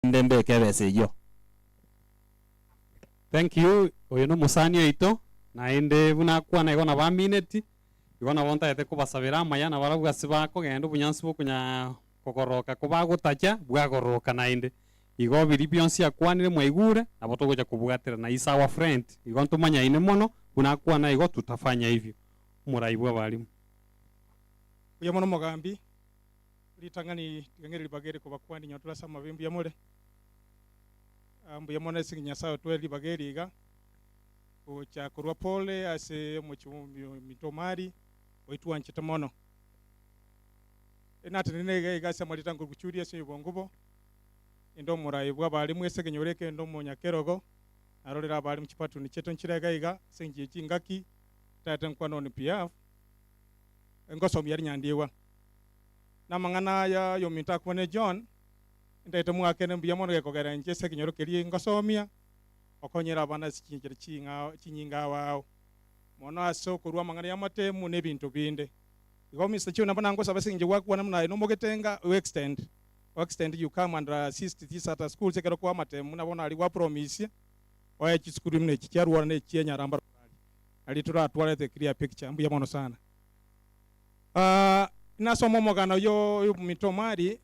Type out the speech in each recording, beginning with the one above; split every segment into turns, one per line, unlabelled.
naende mbeke ebesa eyio.
Thank you, oyo nomosani oito, naende buna akwana igo nabo amineti, igo nabo ntagete kobasabera amaya nabarabwo ase bakogenda obonyansi bwa okonya kogororoka ko bagotacha bwagororoka naende. Igo biria bionsi akwanire mwaigure nabo togocha kobwaterana, he is our friend, igo ntomanyaine mono, buna akwana igo tutafanya hivyo. Omorai bw'abarimu.
Mbuya mono mogambi. Ritang'ani ritang'ani ribaga eri kobakwani nyo tore ase amabe mbuya more ah, mbuya mono ase Nyasaye otwere ribaga eri iga gocha korwa pole ase omochie ominto omari oitwanchete mono enatenene iga iga ase amaritango guchuri ase obongo bo ende omorayo bwa bare mwese kenyore kende omonyakerogo arorere abare muchipatuni cheto nchire iga iga ase enchie chingaki tata nkwa noni piaf engosomia rinyandiwa Namang'ana aya y'ominto akwane John, ntaete mwakene mbuya mono gekogera inche ase ekenyoro keria ngosomia, okonyere abana ase chinchera ching'ao chinyinga abao, mono ase okorua amang'ana y'amatemu na ebinto binde. Igo Mister Chiu nabo nangosaba ase engencho gwakwana buna aye nomogetenga o extend o extend you come and assist these at schools ekero kwa amatemu nabo nari gwa promise oye chisukuru imino echi chiaruorana echi enyaramba rorari nari toratware the clear picture. Mbuya mono sana. Ah, nasoma omogano yo yomominto omwari,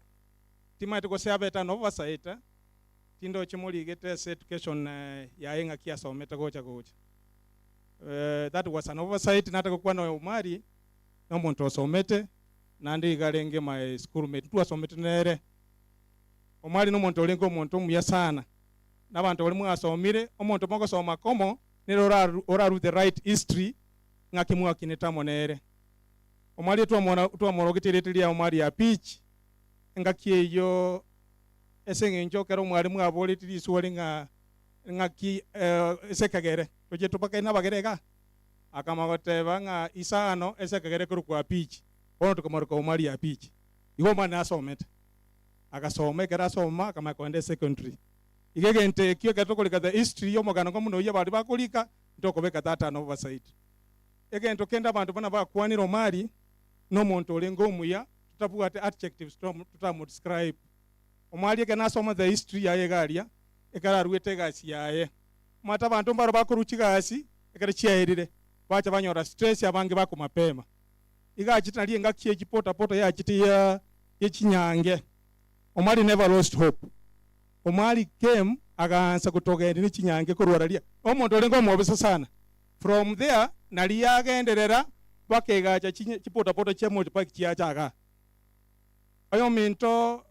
timaete gose abeta nobo basaeta, tindoche morigete ase education eh, yaye ng'aki asomete gocha gocha. Eh, that was an oversight nataka gokwana oyo omwari nomonto osomete naende iga arenge my school mate ntwasomete nere. Omwari nomonto orenge omonto omuya sana, nabanto baria mwasomire, omonto mogosoma komo nere oraru oraru the right history ng'aki mwakinete amo nere. Omwariete twamona, twamorogetie erieta riao mwari Apichi, engaki eyio, ase eng'encho ekero mware mwaboreti riswori ng'a ng'aki eh, ase ekegere tochie tobakane nabagere iga? Akama goteba ng'a isano ase ekegere ekorokwa Apichi, bono tokomaroka omwari Apichi. Igo omwana asomete. Agasoma, ekero asoma akamanya kogenda ase secondary. Iga egento ekio ekero tokorika the history y'omogano kombuna oyio baria bakorika, ntokobeka tata anobo basaiti. Egento kende abanto buna bakwanire Omari nomonto orenge omuya totabwate adjectives totamo describe. Omari ekero nasoma the history yaye iga aria ekero aruete egasi yaye. Omanyete abanto mbaro bakorwa chigasi ekero chiaerire bacha banyora stress abange bako mapema. Iga achete nari engaki ye chipota pota yachete ye chinyange. Omari never lost hope. Omwari Kem agaansa gotogeendia ne chinyange korwa Araria, omonto orenge omobisa sana. From there naria agenderera mpaka egaacha chipotapota chia Moti Paki chiacha gaa. Oyominto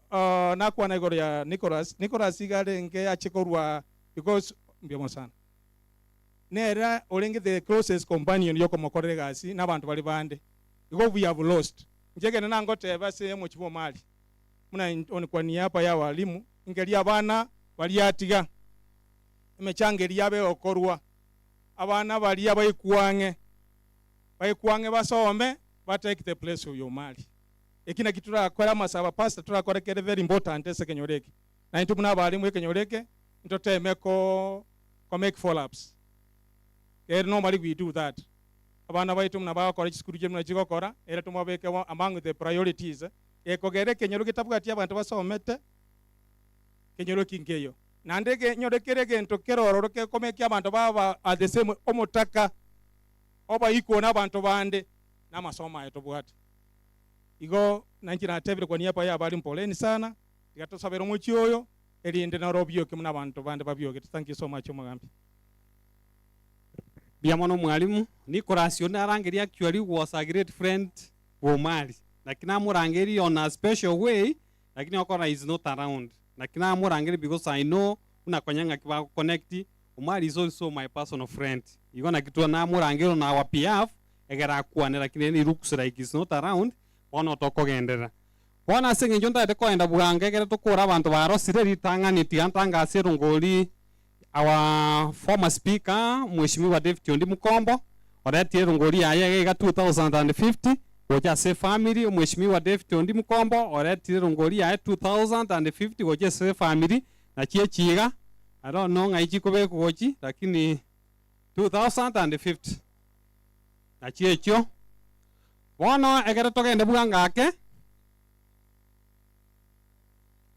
nakwana igoro ya Nicholas, Nicholas iga arenge ache korwa because mbiamo sana. Nere orenge the closest companion yokomokorera egasi na abanto baria bande. Igo we have lost. Inche ekero nangoteba ase omochie bwa Omari, buna in- on- kwa niaba ya walimu, engeria abana bariatiga, emechanga eria yabe egokorwa, abana baria baekwang'e, baekwang'e basome, batake the place of your mari. Eki naki torakore amasabo a pastor torakore kere very important ase ekenyoro eke. Na intwe buna abalimu ekenyoro eke, ntoteme ko ko make follow ups. Kere normally we do that. Abana baito buna bagokora chisukuru chiabu buna chigokora, ere tomabeke bo among the priorities gekogera ekenyoro getabwati abanto basomete kenyororoki nkeiyo, naende genyore kera egento kerororo gekomeke abanto baba at the same omotaka obaikwe na abanto bande na amasomo aye tobwate. Igo nainche natebire kwa niaba yabare mpoleeni sana, tiga tosabere omochie oyo erinde nore obioke buna abanto bande babiogete. Thank you so much omogambi.
Mbuya mono mwalimu. Nicholas oyo narangeria actually was a great friend bw'omwari, naki namorangerie on a special way, lakini okora is not around, naki namorangerie because I know buna konya ng'aki bago connect, omwari is also my personal friend, igo naki twa namorangerie on our behalf, egere akwane, lakini ere it looks like is not around, bono tokogenderera. Bono ase eng'encho ntagete kogenda bwango, egere tokore abanto barosire ritang'ani, tiga ntangasie erongori. Our former speaker mweshimiwa David Ondi Mukombo oretire erongori yaye egaiga 2050 gocha ase efamiri omweshimiwa David Ondi Mukombo oretire erongori yaye 2050 gocha ase efamiri nachi echi iga I don't know ng'ai chikobekwa gochi lakini 2050 nachi echio bono ekero togende bwango ake.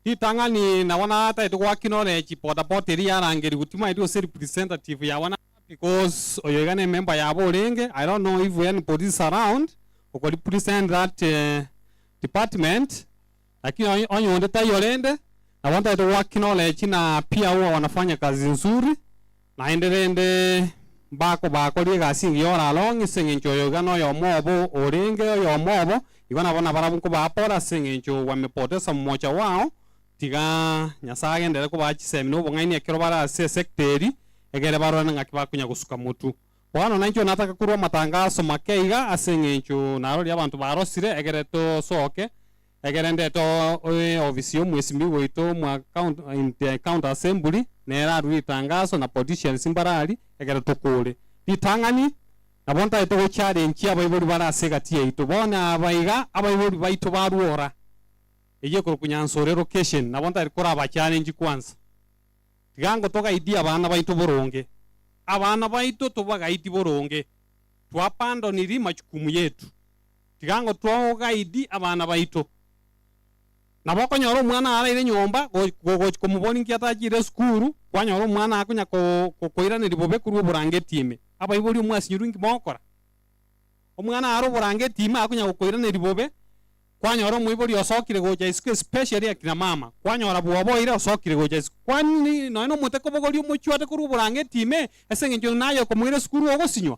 Ritang'ani nabo natagete goaki nore chipotapote eria yarangerigwe timanyeti gose representative yabo naba because oyo iga nemember yabo orenge I don't know if we any police around oko represent that department lakini onye onye onde taiyo rende nabo ntagete goaki nore china pia uwe wanafanya kazi nzuri. Naende rende mbakobakorie egasi engiya oraro ng'a ase engencho oyo iga noyomo obo orenge oyomo obo, igo nabo nabarabwo nkobaa pore ase engencho gwamepotesa momocha bwao, tiga Nyasae agenderere kobaa chisemi na obong'aini ekero bare ase esekta eri, egere barorane ng'aki bakonya gosuka motu. Bono nainche onatake korua amatangaso make iga ase engencho naroria abanto barosire, egere tosoke Egerendete eofisi y'omwesimbi goito mwa in the county assembly nere arue ritangaso na politicians mbare ari ekero tokore ritang'ani nabo ntaete go challenge abaibori bare ase egati yaito bono aba iga abaibori baito barue ora eyio ekorokwa Nyansore location nabo ntari koraba challenge kwansa tiga ngo togaidie abana baito boronge abana baito tobagaidi boronge to abandon ri majukumu yetu. Tiga ngotwa ogaidi abana baito. Nabo okonyora omwana araire nyomba gochia komoborinkia tachire esukuru, kwanyora omwana akonya koiraneria bobe korwa oborangeti ime. Abaibori omwasinyorwe inki mogokora? Omwana are oborangeti ime akonya gokoiraneria bobe, kwanyora omoibori osokire gocha isiko especially akina mama, kwanyora bwoba oira osokire gocha isiko. Kwani nonye nomote kobogoria omochwate korwa oborangeti ime ase eng'encho naye okomoira esukuru ogosinywa?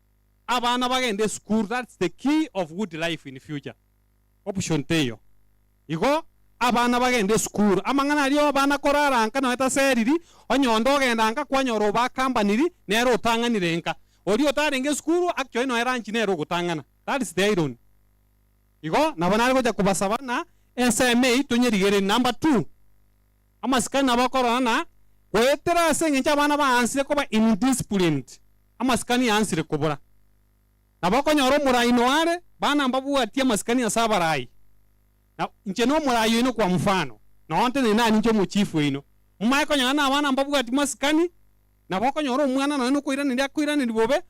abana bagende esukuru that's the key of good life in future option teiyo igo abana bagende esukuru amang'ana aria obana korara nka nonya taseriri onye onde ogenda nka kwanyora obakambaniri nere otang'anire nka oria otarenge esukuru actually nonya lunch nere ogotang'ana that's the irony igo nabo nare gocha kobasaba buna ensemo eye tonyerigereri number two. Amasikani nabo akorora na goetera ase engencho abana baansire koba indisciplined, amasikani aansire kobura. Nabo okonyora omoraai noare, bana mbabwatie amasikani ase abaraai. Na inche nomoraai oino kwa mfano, nonteneine nanie inche omochief oino, momaye konyora na abana mbabwati masikani Nabo okonyora omwana nonya nokoiraneria akoiraneria bobe,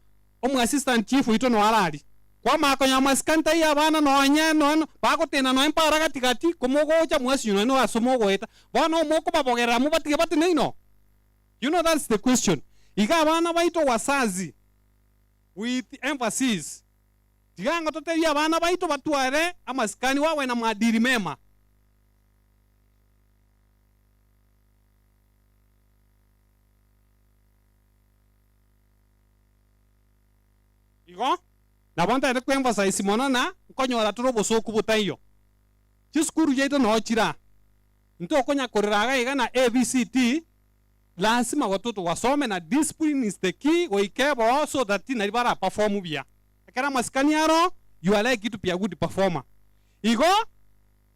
omoassistant chief oito noyo ararie. Kwamanya konya amasikani taiyo abana nonya nonya bagoteena nonya mpara gati gati komogocha mwasinyo nonya noyo ase mogoeta. Bono omo okobabogerera mobatige batene inoo? You know that's the question. Iga abana baito wazazi with emphasis tiga ngo totebie abana baito batware amasikani wawe na maadili mema. Igo nabo ntaete kw'emphasize mono ng'a nkonyora tore obosooku botaiyo. Chisukuru chiaito noo chire aa. Ntokonya korera iga iga na ABCD, lasima gotu tugasome na discipline is the key goika ebo so that nari bara perform buya. Ekero amasikani aroo, you are likely to be a good performer. Igo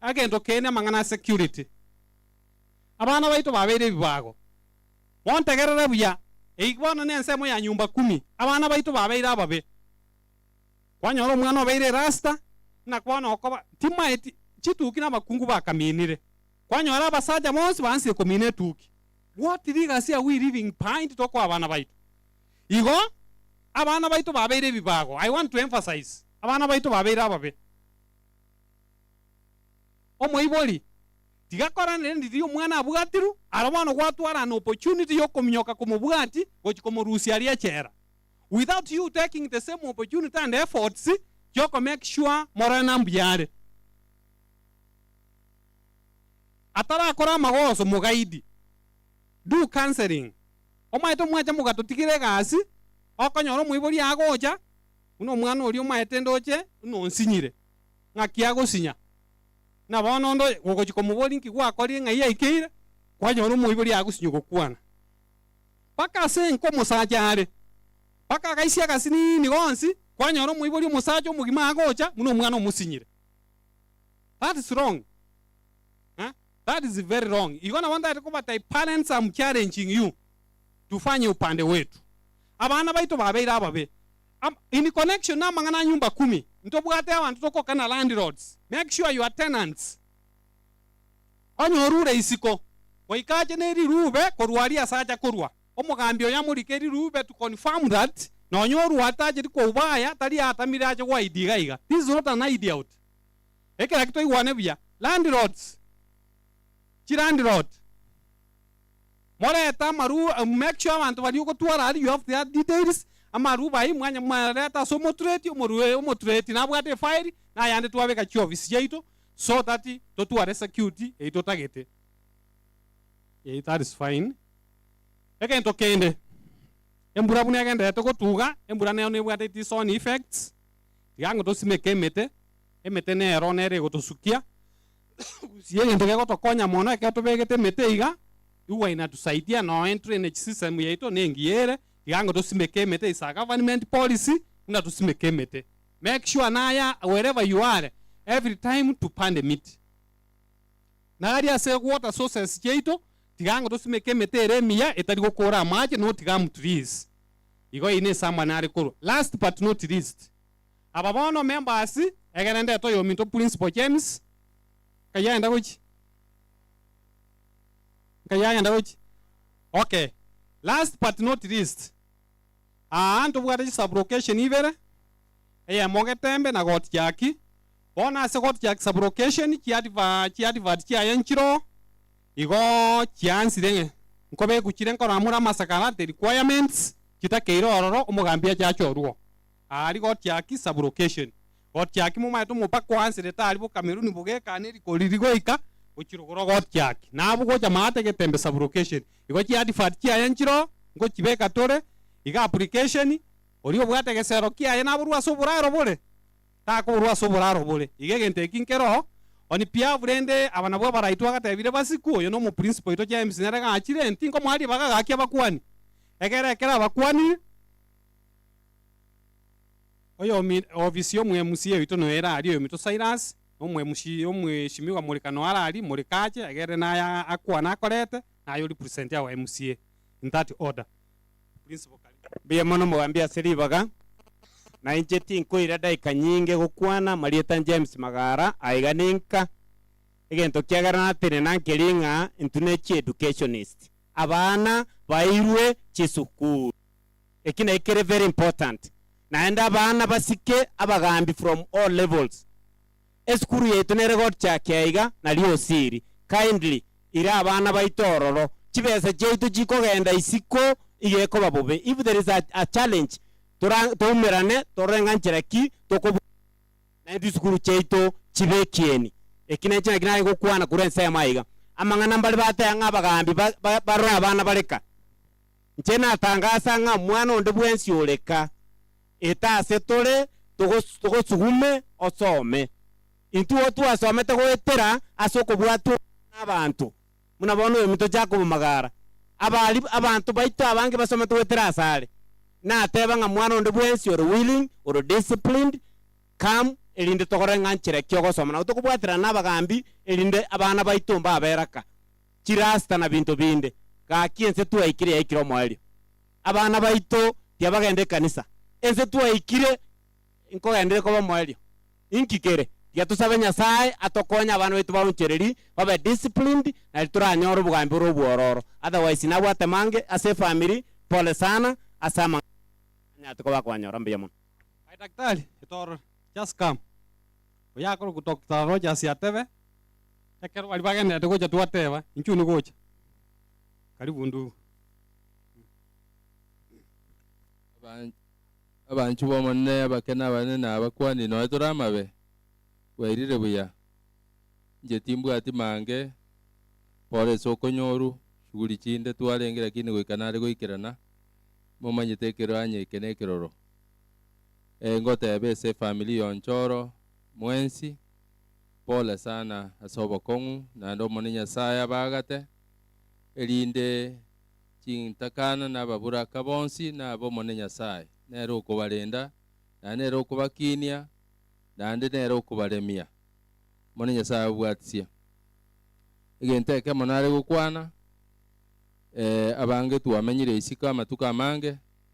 Agento keene amang'ana a security. Abana baito babeire ebibago. Montegerere buya, eyio bono nensemo ya nyumba kumi. Abana baito babeire ababe. Kwanyora omwana obeire erasta, ng'a bono okoba, timaeti, chituki na abakungu bakaminire. Kwanyora abasacha bonsi baansirie komina etuki. What legacy are we leaving behind tokoa abana baito? Igo, abana baito babeire ebibago. I want to emphasize, abana baito babeire ababe. Omoibori tigakoranere ndi riria omwana abwatirwe, ara bono gwatwarana opportunity yokominyoka komobwati gochia komorusia aria echela without you taking the same opportunity and efforts chioko make sure morore na mbuya are. Atarakora amagoso mogaidi, do counseling. Omaete omwacha mogatotigera egasi, okonyora omoibori agocha buna omwana oria omaete ndoche buna onsinyire. ng'aki agosinya. Buna bono onde oye gogochia komoboria inki gwakorire ng'ai yaikeire, kwanyora omoibori agosinywa gokwana. Mpaka ase enka omosacha are, mpaka agaisia agasiniini gonsi, kwanyora omoibori omosacha omogima agocha buna omwana omosinyire. That is wrong. Eh? That is very wrong. Igo nabo ntagete kobatai parents am challenging you tufanye upande wetu. Abana baito babeire ababe, Am, in connection na amang'ana a nyumba kumi, ntobwate abanto tokoka na landlords, make sure your tenants onye orure isiko goika ache ne rirube korwa aria ase acha korwa, omogambi oye amorike rirube to confirm that nonye orua tacheti kouba aya tari atamire ache goa idi iga iga, this is not an hide out. Ekera ki toigwane buya, landlords, chilandlord. morete amarua make sure abanto baria ogotwara aria you have their details amarua baye mwanya mwareta ase omotureti omorua oyo omotureti nabwate efile na ayande twabeka chiofisi chiaito so that totware security eye totagete eh that is fine egento kende embura buna egenderete gotuga embura nero nebwate it is own effects tiga ngotosime ke emete emete nero nere egotosukia Gusii egento gegotokonya mono ekero tobegete emete iga, igwa inatusaidia no in drainage system yaito nengiya ere, igango tosimeke emete is a government policy buna tosimeke emete. Make sure naya wherever you are every time tupande miti. Nari ase water sources chiaito tigango tosimeke emete ere emiya etari gokora amache not gum trees. Igo eye ne esamba nare korwa. Last but not least. Aba bono members egere ndete oyominto Principal James, nkayi agenda gochia? Nkayi agenda gochia? Okay. Last but not least, aa ntobwate chisublocation ibere, eyemo Getembe na Got Jackie. Bono ase Got Jackie sublocation chiadva chiadvert chiaye nchire oo, igo chiansire ng'e nkobekwa chire nkoramora amasakara, the requirements, chitakeire ororo omogambi ache achorwe oo. aari gotiaki sublocation, gotiaki momaete omopaka oanserete aari bo Cameroon bogekana erikoriri goika gochirogora ogotiaki. Nabo gocha maate getembe sublocation, igo chi advert chiaye nchiroo ngochibeka tore, iga application, oria obwate egesero kiaye naborue ase oboraro bore, takoborua ase oboraro bore, iga egento eki nkeroo oni piafu rende aba nabwo abaraitwa agatebire Basiku, oyo nomo principal oito James nere gachire, ntinkomoa ribaga gaki abakuani, egere ekero abakuani, Oyomi-ofisi omwemusi yaito noyo ere aria, oyominto Silas, na omwemusi omweshimiwa Morika noyo are aria, Morika ache, agerere naya akwane akorete, na aye oripresenti our MCA in that order. Principal Kariuki. Mbuya mono
mogambi ase ribaga, na inche tinkoira daika nyinge gokwana amarieta James Magara aiga ninka, egento kiagera natenena nkeri ng'a intwe ne chi educationist, abana bairwe chisukuru. Eki naki kere very important naende abana basike abagaambi from all levels. Esukuru yaito nere gochakia iga nario osiri, kindly ira abana baito ororo. Chibesa chiaito chikogenda isiko iga ekoba bobe. If there is a a challenge tora toumerane torore ng'a nchera ki toko naende chisukuru chiaito chibe ekieni. Eki nekio naki nare gokwana korwa ensemo aiga. Amang'ana mbare bateba ng'a abagaambi ba ba barore abana bareka. Inche natangasa ng'a mwana onde bwensi ore ka, eta ase tore togosugume osome. Intwo twasomete goetera ase okobwatwa obuya nabaanto, buna bono oyominto Jakobo Magara, abari abanto baito abange basomete goetera asare, nateba ng'a mwana onde bwensi ore willing, ore disciplined, come erinde tokorore ng'a nchera ki ogosoma nabo tokobwaterana nabagaambi erinde abana baito mbabe era ka. chirasta na binto binde. Gaki ense twaikire yaikire omoerio. Abana baito tiyabagenda ekanisa. Ense twaikire nkogendereri koba omoerio. Inki kere? Tiga tosabe Nyasae atokonye abana baito baonchereri, babe disciplined, nari toranyore obogambi bore obwororo. Otherwise nabwate mange ase efamiri, pole sana ase amang'ana aria, anyare koba akonyora mbuya mono. Hi daktari,
etorore, just come. oyakorokwa Doctor Rogers atebe, ekero baria bagendererete gocha twateba, Inchuo nigocha. Karibu ndugu. Aban-
Abanchwa b'Omonene, abake nabane na abakuani, nonya tore amabe, bwairire buya. Inche timbwati mange, Paul ase okonyoru, shughuli chinde, twarenge lakini goika nare goikerana, momanyete ekero anye eke nekiroro. Ngoteebe ase efamiri yoncho oro mwensi, Pole sana ase obokong'u naende Omonene Nyasae abaagate, erinde chintakana na ababuraka bonsi na abe Omonene Nyasae nere okobarenda, naende nere okobakiinia, naende nere okobaremia. Omonene Nyasae ababwatisie. Egento ekemo nare gokwana, abange twamenyire isiko amatuko amange,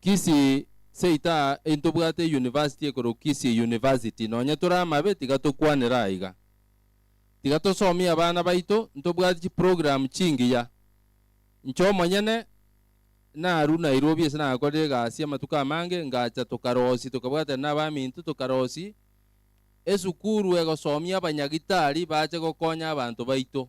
Kisii seita aa intobwate university ekorwa Kisii University nonya tore amabe tiga tokwanera aiga. Tiga tosomie abana baito ntobwate chiprogram chingiya. Inche omonyene naru Nairobi ase nakorire egasi amatuko amange ngacha tokarosi tokabwatana nabaminto tokarosi esukuru egosomia abanyagitari bache gokonya abanto baito.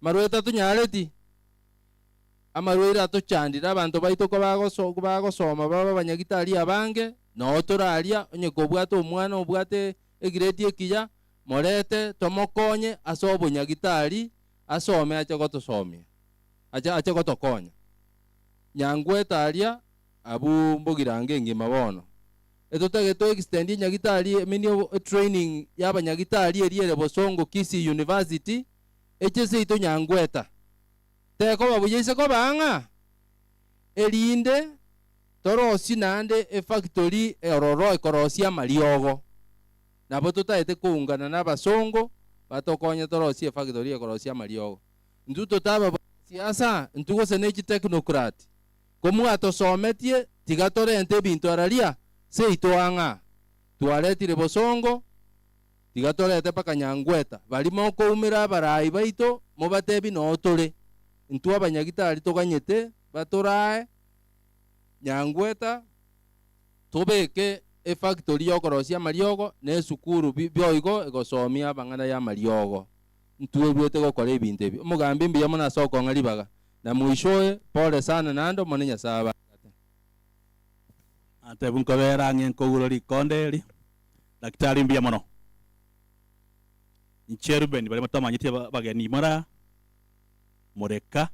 Amarwaire tatunyareti, amarwaire atochandire, abanto baito kobagosoma babe abanyagitari abange, nao tore aria, onye kobwate omwana obwate egiredi ekiya, morete tomokonye ase obonyagitari asome ache gotosomia, ache gotokonya. Nyangwete aria, abwo mbogirango engima bono. Etotagete to extend enyagitari emenio, etraining y'abanyagitari eria ere bosongo Kisii University. eche seito nyangweta, tekoba buya ise koba ang'a, erinde torosie naende efactory ororo ekorosia amariogo. Nabo totaete koungana nabasongo batokonye torosie efactory ekorosia amariogo. Intwe totaba basiasa, intwe gose ne chitechnocrat. Komwatosometie, tiga torente ebinto araria seito ang'a. Twaretire bosongo. Tiga torete mpaka nyangweta baria mokoumera abaraai baito, mobatebi noo tore intwe abanyagitari toganyete batoraae nyangweta tobeke efactory y'okorosia amariogo na esukuru bi boigo egosoomia abang'ana y'amariogo. Ntwebuete gokora ebinto ebi. Omogambi mbuya mono ase okong'a ribaga. Na moishoe, pole sana naende Omone Nyasae abaangate.
Natebwa nkobeera ang'e nkogurwa rikonda eri, Daktari, mbuya mono. Inche Rubeni baria batamanyeti abageni mora Moreka,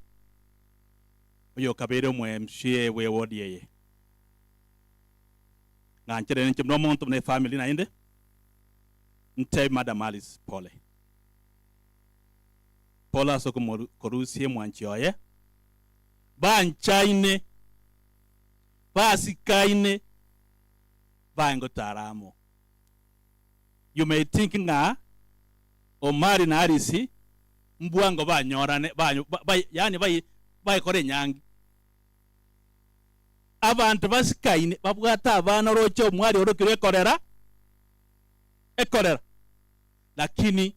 oyokabeire omweMCA bwe wodi eye. Ng'anchere ninche buna omonto buna efamili naende, ntebi Madam Alice pole. Pole ase okomorusia emwanchi oye. Banchaine, basikaine. baye ngotara amo. You may think ng'a Omari na Alice mbwa ngo banyorane, ba, ba, ba, yaani bai, baikore enyangi. Abanto basikaine babwate abana oroche omwari orokirwe ekorera, ekorera, lakini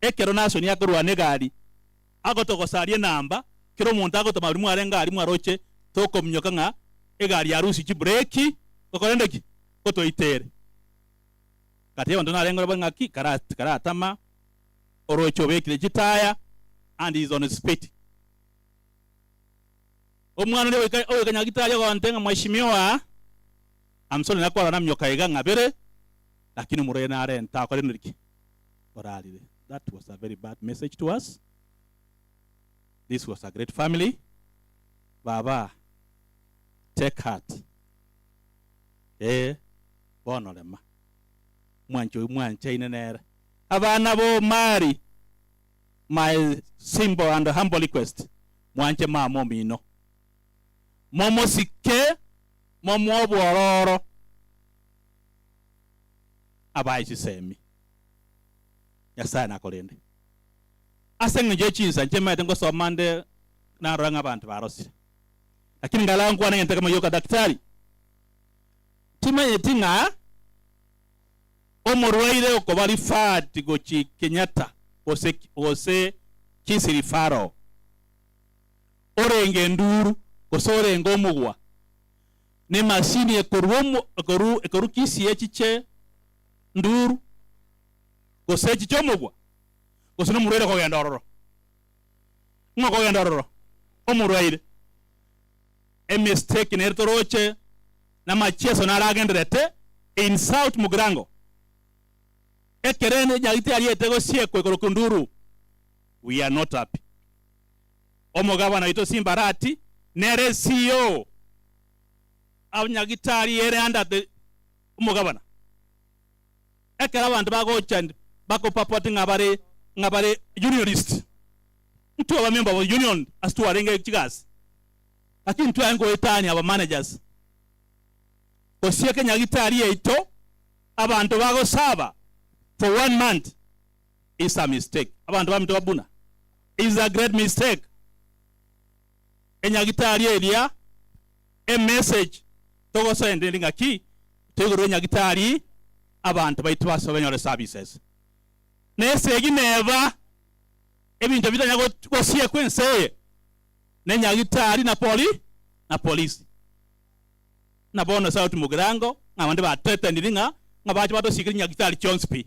Ekero Nasoni akorwa negari, agotogosaria enamba, kera omonto agotoma aria mware ngari mwaroche, tokominyoka ng'a egari yarusia chibureki gokorende ki? Gotoitere. Gati y'abanto narenge orabore ng'aki? Kara, karatama, oroche obekire chitaya and is on speed. Omwana oria ogoika, ogoikanya gati aria ogonte ng'a mweshimiwa, I'm sorry nakwarora naminyoka iga ng'abere, lakini omorwaire narenta akorire ki? orarire that was a very bad message to us this was a great family baba take heart eeh bono rema mwanche oyio mwanchaine nere abana ba omari my simple and humble request mwanche mama omino momosike momoe obwororo abae chisemi. Nyasae nakorende. Ase engencho ye chinsa inche maete ngosoma nde narora ng'a abanto barosire. Lakini nkarara nkwana egento ekemo gioka, Daktari, timanyeti ng'a omorwaire okoba referred gochi Kenyatta gose gose Kisii Referral orenge enduru gose orenge omogwa ne machine ekorwa omo ekorwa ekorwa Kisii echiche nduru, gose echi chi'omobua, gose nomorwaire okogenda ororo. Ng'a okogenda ororo omorwaire, emistake nere toroche namachieso naro agenderete, insult mugirango, ekerende nyagete yariete gosiekwa igoro kinduru, we are not happy. Omogabana oito Simbarati nere CEO, abanyagitari ere under the. omogabana. Ekero abanto bagocha bako purport ng'a bare ng'a bare unionist, intwe aba member of union ase twarenge chigasi, lakini ntwaye ngoetania aba managers. Gose eke nyagitari yaito abanto bagosaba for one month is a mistake. Abanto baminto babuna is a great mistake. enyagitari eria e message togosenderia ngaki toigorere enyagitari abanto baito base banyore services. Na esegi neba ebinto bitanya gosiekwa ense eye ne nyagitari na poli na polisi. Buna bono sauti mogirango ng'a abande ba threateniri ng'a ng'a bache batosiekere nyagitari chionsi pi.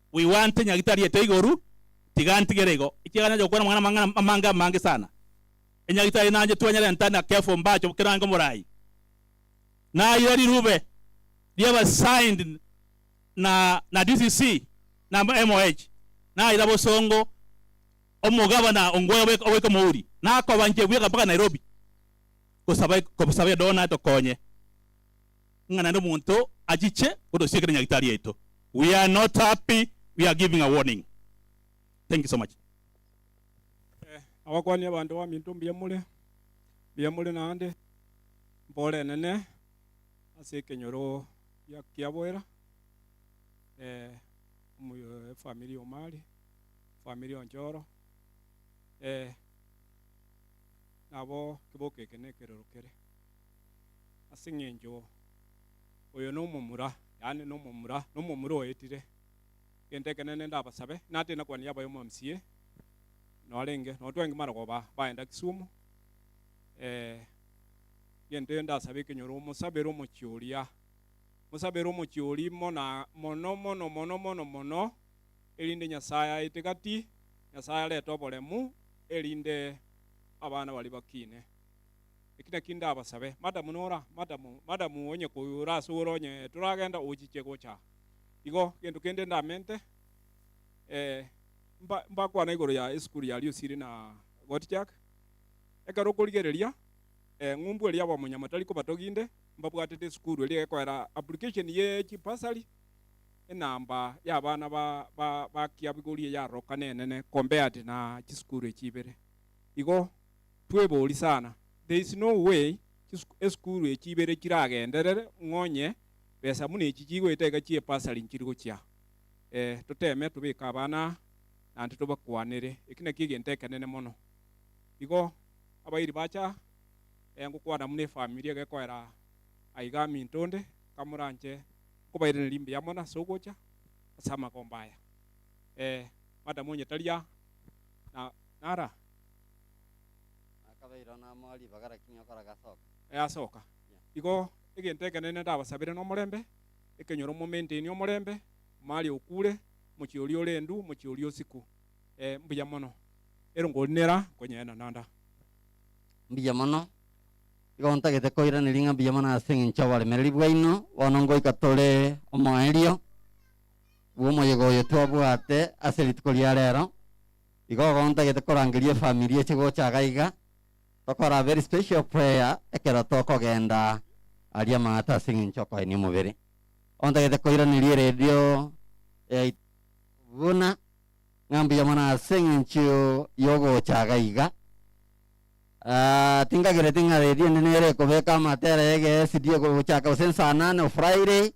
Bwigwante nyagitari ete igoru, tiga ntigere igo, ekiagera nacha gokwana amang'ana amang'ana amange amange sana. Enyagitari nanche twanyarenta na Kefo mbache obokerange oborai. Nayire rirube riaba signed na na DCC na MOH, nayira bosongo omogabana ongwai obe oboika omouri, nakoba nche bweka mpaka Nairobi gosaba gosaba edow natokonye. ng'a naende omonto achiche kotosiekera nyagitari yaito. We are not happy we are giving a warning. Thank you so much.
Abakwania abanto baminto mbuya more, mbuya more naende mporenene ase ekenyoro gia kiaboera omoyo efamiri omari efamiri onchoro nabo keboko eke nekerero kere. ase engencho oyo nomomura, yaani nomomura, nomomura oetire. Egento ekenene ndabasabe, inatiri na kwani yabayo mwa MCA, norenge, nonye twenki mara koba baenda Kisumu, eh, egento eyo ndasabe ekenyoro, omosabere omochie oria, omosabere omochie oria imo na mono mono mono mono mono, erinde Nyasaye aete gati, Nyasaye arete oboremu, erinde abana baria bakine. Eki nakio ndabasabe, Madam nora? Madam, madam, onye koigwa ore ase ore onye toragenda ochiche gocha aa. Igo, gento kende ndamente, eh, mba, mbakwana igoro ya esukuru ya Riusiri na Gottschalk. Ekero okorigereria, eh, ng'umbu eria abamonyamotari kobatoginde, mbabwatete esukuru eria egekoera application ye chibursary, enamba ya abana ba, ba, ba kiabigori eyarorokana enene compared na chisukuru echi ibere. Igo twebori sana. There is no way esukuru echi ibere chiragenderere ng'onye besa buna echi chigoeta iga chie bursary nchiri gochia. Eh, toteme tobeke abana aa naende tobakwanere. Eki nakio egento ekenene mono. Igo abairi bacha eh ngokwana buna efamiri egekoera aiga aminto onde, kamoranche nkobairana rimbuya mono ase ogocha ase amagomba aya. Eh, madam onye tari aa, na, nara? Na
akabeirwa namo ribaga rakini okora gasoka. Easoka.
Igo egento ekenene ndabasabere nomorembe, ekenyoro momaintainie omorembe, Maria okure, mochie oria ore endu, mochie oria osiku. Ee, mbuya mono. Ero nkorinera, nkonyeena nanda. Mbuya
mono. Igo ntagete koiraneria ng'a mbuya mono ase engencho y'oboremereri bwaino. Bono ngoika tore omoerio bw'omoyega oyo twabwate ase rituko ria rero. Igo bono ntagete korangeria efamiri eche gocha gaiga, tokora very special prayer ekero tokogenda aria Manhattan ase eng'encho okoenia omobere. Bono ntagete koiraneria eredio yaito buna ng'a mbuya mono ase eng'encho yogocha gaiga. Ah, tinkagereti ng'a redio ende nere ekobeka amatera yege esidi ego gochaka gose saa nane o Friday,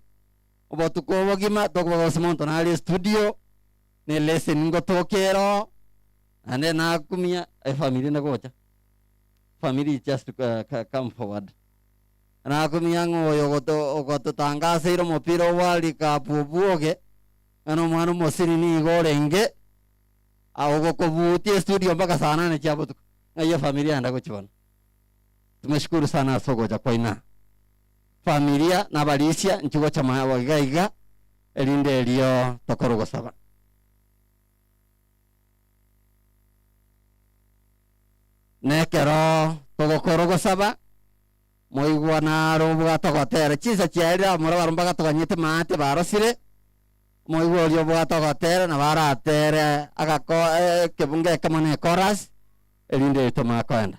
obotuko obogima tokobogosa monto nare estudio, ne leseni ngotokia ero naende nakumia efamiri inde gocha family is just eh, co- come forward nakumia ng'a oyo ogoto- ogototangaseire omopira o world cup obwoge ng'a na omwana omosiri nigo orenge ah, ogokobutia estudio mpaka saa nane chia botuko ng'ai efamiri yagenda gochia bono tumeshukuru sana ase ogocha kwaino aa. familia na abarisia nchigocha moyo abo iga iga erinde erio tokorwa gosaba. Na ekero togokorwa gosaba, moigwa naro obwate ogotera chinsa chiaye riria abamura barabwo mbagatoganyete maate barosire, moigwa oria obwate ogotera nabo aratere agako ekebunga ekemo ne ekorasi erinde erio tomanye koenda.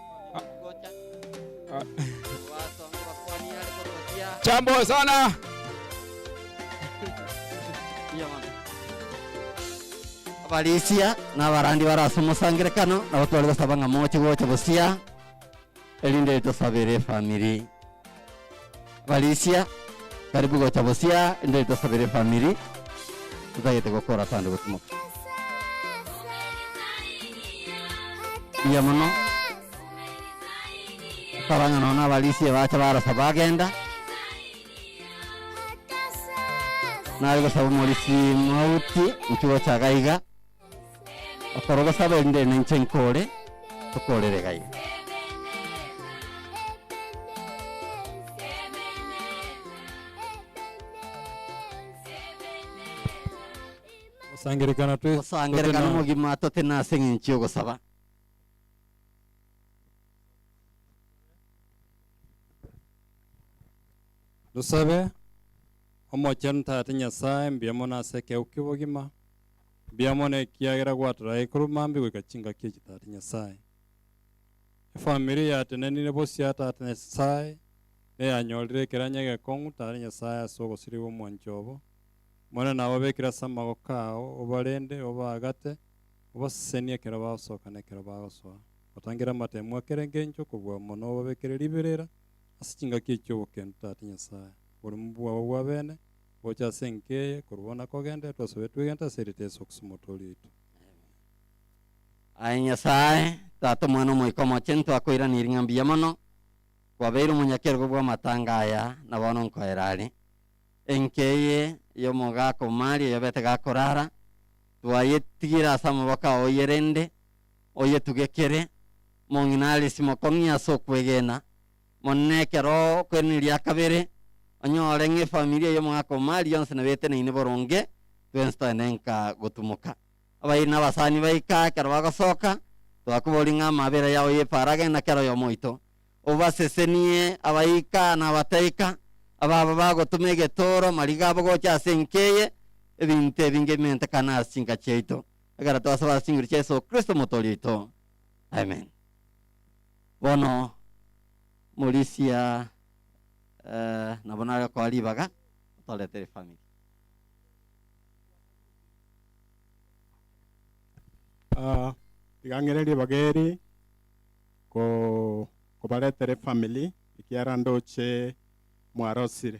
Jambo sana.
abarisia na abarandi bare ase omosangerekano nabo tware gosaba ng'a moche gocha bosia erinde tosabere efamiri Felicia, karibu gocha bosia inde tosabere efamiri totagete gokora asande gotumoka. Mbuya mono. Tokaba ng'a nonya Felicia bacha barasa bagenda. Nare gosaba omorisia mauti inchuo gocha gaiga. Okorogosaba erinde nainche nkoore, tokoorere gai.
Gosangererekana twe- Gosangererekana totena- omogima
totena ase eng'encho y'ogosaba.
Tosabe. Omochenu Tata Nyasae, mbuya mono ase ekegeu ki'obogima. Mbiamono ekiagera gwatorire aikuru mambi goika chingaki echi Tata Nyasae. Efamiri yatenenire bosio a Tata Nyasae neyanyorire ekeranyo egekong'u Tata Nyasae ase ogosiria gw'omwancho obo. Monene ababekire ase amagoko ao, obarende, obaagate, obasesenie ekero bagosoka na ekero bagosoa. Otangere amatemo a kera engencho kobua amo na obabekere riberera ase chingaki echi obokendu Tata Nyasae, oboremu bwabo bwabene, Gocha ase enka eye, korwa bono akogenda, twasoe twegenta ase erita Yesu Kristo Omotoori oito. Aye
Nyasae, Tata, Omwana, Omoika Omochenu, twakoiraneiri ng'a mbuya mono kwabeire omonyakerogo bw'amatanga aya, na bono nkoera are. Enka eye y'omogaaka o Maria oyobete gakorara, twayetigire ase amaboko ao oye rende, oyetugekere, mong'ina arisimoke ong'ie ase okwegena, Monene ekero okwenena ria kabere, onyore ng'a efamiri eye omogaka omari onsi nabeteneine boronge, twensi toene nka gotumoka. Abairi na abasani baika, ekero bagosoka, twakoboria ng'a amabera yao y'epaara agende na kera oyomo oito. Obasesenie abaika na abataika, ababo bagotuma egetooro, mariga abo gocha ase enka eye, ebinto ebinge bimentekane ase chinka chiaito. Egera twasaba ase chinguru chia Yeso Kristo Omotoori oito. Amen. Bono morisia nabo nare okoa ribaga otoretere family.
Tiga ng'ire ribaga eri kobaretere family ekiara ndoche mwarosire.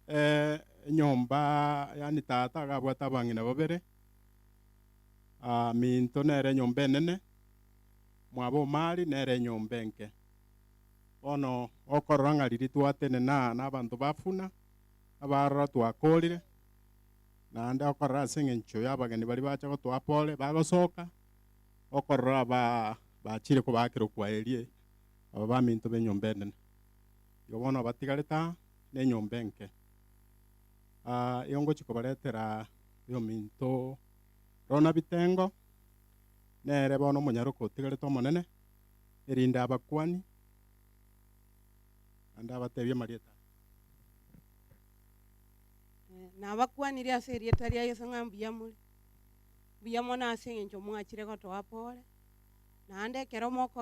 eh, enyomba yani tata agabwate abang'ina babere, ah, minto nere enyomba enene, mwabo o Mali nere enyomba enke. Bono okorora ng'a riria twatenena nabanto ba buna, abaroro twakorire, naende okorora ase eng'encho y'abageni baria bacha gotoa pole, bagosoka, okorora ba bachire kobaakera okwaerie, aba baminto b'enyomba enene. Igo bono abatigarete aa nenyomba enke, aa ongochia kobaretera oyominto rona bitengo, nere bono omonyaroke otigarete omonene, erinde abakuani naende abatebie amarieta aya.
Nabakuanire ase erieta ria Yeso ng'a mbuya more, mbuya mono ase eng'encho mwachire gotoa pore, naende ekero moko.